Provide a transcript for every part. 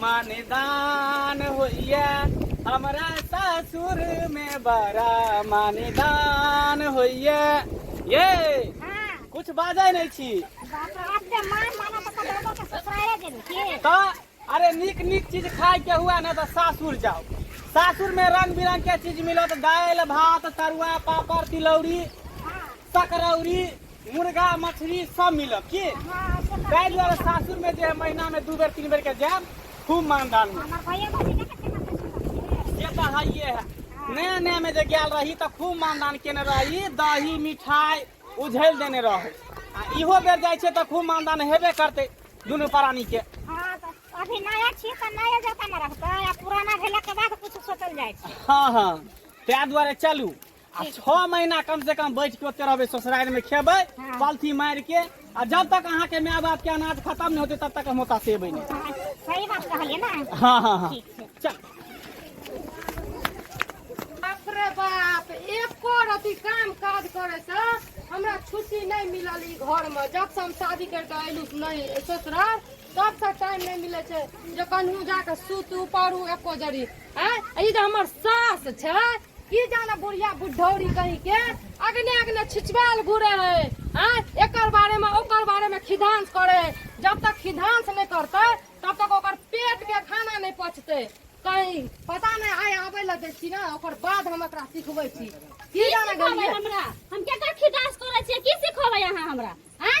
मानिदान होइए हमरा सासुरमे बड़ा मानिदान होइए ये कुछ बाजै नहि छी तऽ अरे नीक नीक चीज खायके हुए ने तऽ सासुर जाउ सासुरमे रंग बिरंग के चीज मिलत दालि भात तरुआ पापड़ तिलौरी सकरौरी मुर्गा मछली सब मिलत की ताहि दुआरे सासुर में जे महीना में दू बेर तीन बेर के जायब खूब मानदान में जे तऽ हइये है नया नया में जे गेल रही तऽ खूब मानदान केने रही दही मिठाई उझैल देने रही आ इहो बेर जाइ छै तऽ खूब मानदान हेबे करतै दुनू प्राणी के अभी नया छी तऽ नया जकाँ ने रहतै आ पुराना भेला के बाद कुछ सोचल जाइ छै हाँ हाँ ताहि दुआरे चलू आ छओ महीना कम से कम बैठ के ओते रहबै ससुरारि में खेबै हाँ। पलथी मारि के आ जब तक अहाँ के माय बाप के अनाज खत्म नहीं होते तब तक हम ओतऽ से एबै नहीं हाँ, सही बात कहलियै ना हाँ हाँ हाँ ठीक छै चल बाप रे बाप एको रति काम काज करे से हमरा छुट्टी नहीं मिलल ई घर में जब से हम शादी कर के अयलू नहीं ससुराल तब से टाइम नहीं मिले छै जे कन्हू जाके सुतू पड़ू एको जरी हैं ई जे हमर सास छै की जाने बुढ़िया बुढ़ौरी कहीं के अगने अगने छिछबाल घुरे है आ एकर बारे में ओकर बारे में खिधांस करे है जब तक खिधांस नहीं करते तब तक ओकर पेट के खाना नहीं पचते कहीं पता नहीं आय आबे लग दै छी ना ओकर बाद हम एकरा सिखबै छी की जाने सिखबै गलिए हमरा हम केकर खिदास करै छियै की सिखबै अहाँ हमरा आँय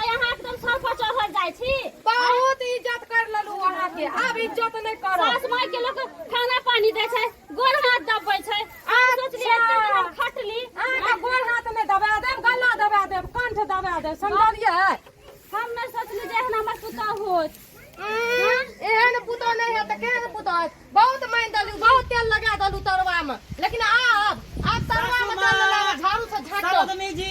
आय अहाँ एकदम सर पर चढ़ल जाइ छी बहुत इज्जत कर लेलू अहाँ के आब इज्जत नहीं करो सास माय के लोग खाना पानी दे छै गोर हाथ दबे छै आब सोचलिए अच्छा। एते हम खटली अहाँ के गोड़ हाथ में दबा देब गला दबा देब कंठ दबा देब समझलिए हम न सोचली जे एहन हमर पुता होत एहन पुतो नहीं है तो केहन पुतो है बहुत माइन दलू बहुत तेल लगा दलू तरवा में लेकिन आब आब तरवा में तेल लगा झाड़ू से झाड़ दो साधनी जी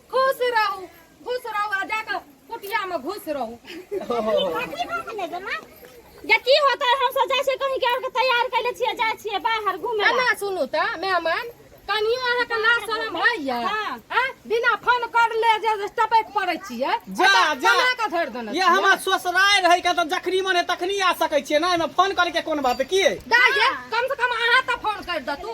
खुश रहू खुश रहू आ जाके कुटिया में घुस रहू जे की होता है हम सब जाय छै कहीं के और के तैयार कैले छियै जाय छियै बाहर घूमे ला। एना सुनू तऽ मेहमान कनियो अहाँके लाज शरम होइया हाँ। आँ? बिना फोन कर ले जे टपैक पड़ै छियै जा, ओतऽ जा। कमा कऽ धरि देने ये छियै। हमार ससुराय रहे के तो जखनी मन है तखनी आ सकै छियै ना एमे फोन करे के कोन बात है की है? दाय जे, कम से कम अहाँ तऽ फोन करि दतू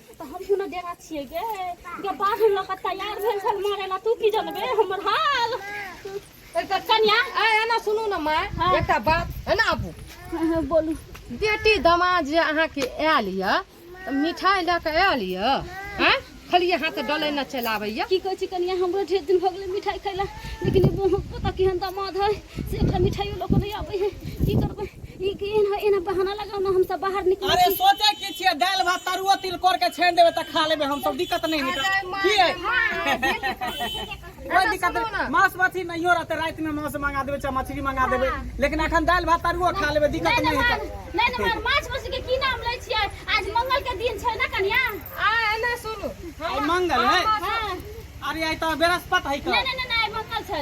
तऽ हम कोनो डेरा छियै गे गे बाढ़ लऽ कऽ तैयार भेल छल मारे ला तू की जनबे हमर हाल एकटा कन्या ए एना सुनू ने माय हाँ। एकटा बात एना आबू हाँ, हाँ, बोलू बेटी दामाद जे अहाँके आयल यऽ तऽ मिठाइ लऽ कऽ आयल यऽ आँय खाली अहाँ तऽ डलै ने चलि आबैया की कहै छी कनिया हमरो ढेर दिन भऽ गेलै मिठाइ खैला लेकिन ई पता केहन दामाद है से ओकरा मिठाइयो लोक नहि आबै है की करबै ई के एहन एहन बहाना लगाउ ने हमसब बाहर निकल अरे सोचे की छियै दाल भात तरुआ तिलकोर के छानि देबै तऽ खा लेबै हम सब दिक्कत नहि हेतै की है कोई दिक्कत नहीं मांस मछली नहीं हो रहते रात में मांस मंगा देवे चाहे मछली मंगा देवे लेकिन अखन दाल भात तरुआ खा लेवे दिक्कत नहि नहि हेतै नहि नहि मार माछ मछली के की नाम लै छियै आज मंगल के दिन छै ना कन्या आ एना सुनू आइ मंगल है हाँ। अरे आइ तऽ बृहस्पति है का नहीं नहीं नहीं मंगल छै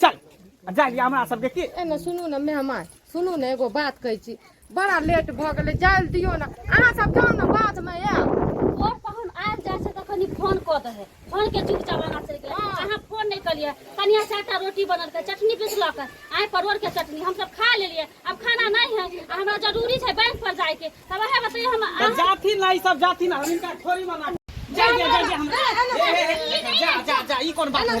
चल आ जा लिया हमरा सबके की ए ने सुनू ने मेहमान सुनू ने एगो बात कहै छी बड़ा लेट भऽ गेलै जाय लए दियौ ने अहाँ सब जाउ ने बादमे आयब और पहुन आयल जाय छै तखन ई फोन कऽ दे है फोन के चुपचाप आगा चलि गेल अहाँ फोन नहि कलियै कनिया चारिटा रोटी बनल के चटनी पिसलक आइ परोर के चटनी हम सब खा लेलियै अब खाना नहीं है आ हमरा जरूरी छै बैंक पर जाय के तब वएह बतैया हम तऽ अहाँ जाथि ना ई सब जाथि ना हम इनका थोड़ी मना जा जा जा जा हमरा ए, ए, ए, ए, जा जा जा ई कोन बात है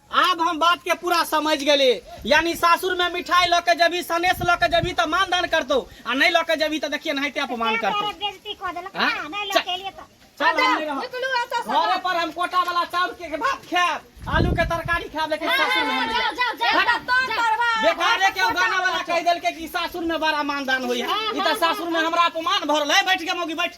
आब हम बात के पूरा समझ गेली यानी सासुर में मिठाई लऽ के जेबी सनेस लऽ के जेबी तऽ मान दान करतौ आ नहि लऽ के जेबी तऽ देखिए नहिते अपमान करतौ बेइज्जती कऽ देलक हाँ? ना, नहीं लऽ के एलियै तऽ। चल हम नहि रहब निकलू एतऽ से घरे पर हम कोटा वाला चाउर के भात खाएब आलू के तरकारी खाएब लेकिन सासुर में हम नहीं जाओ, जाओ, जाओ, जाओ, तो जाओ। करबा। बेकारे के गाना वाला कह देलके कि सासुर में बड़ा मानदान होई है ई त सासुर में हमरा अपमान भरल है बैठ के मौगी बैठ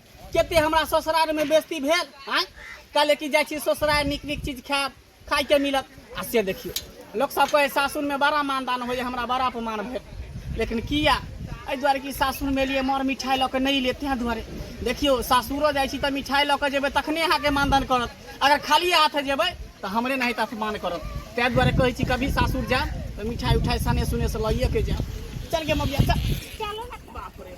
कते हमरा ससुरालमे बेस्ती भेल आँय कहले कि जाइ छी ससुराल नीक नीक चीज खायब खाइके मिलत आ से देखियौ लोक सब कहे सासुरमे बड़ा मानदान होइए हमरा बड़ा अपमान भेल लेकिन किया एहि दुआरे कि सासुरमे लिए मर मिठाइ लऽ कऽ नहि लिए तेँ दुआरे देखियौ सासुरो जाइ छी तऽ मिठाइ लऽ कऽ जेबै तखने अहाँके मानदान करत अगर खाली हाथ जेबै तऽ हमरे नाहित अपमान करत ताहि दुआरे कहै छी कभी सासुर जायब तऽ मिठाइ उठाइ सने सुने से लइए के जायब चल गे मबिया चल चलो ना बाप रे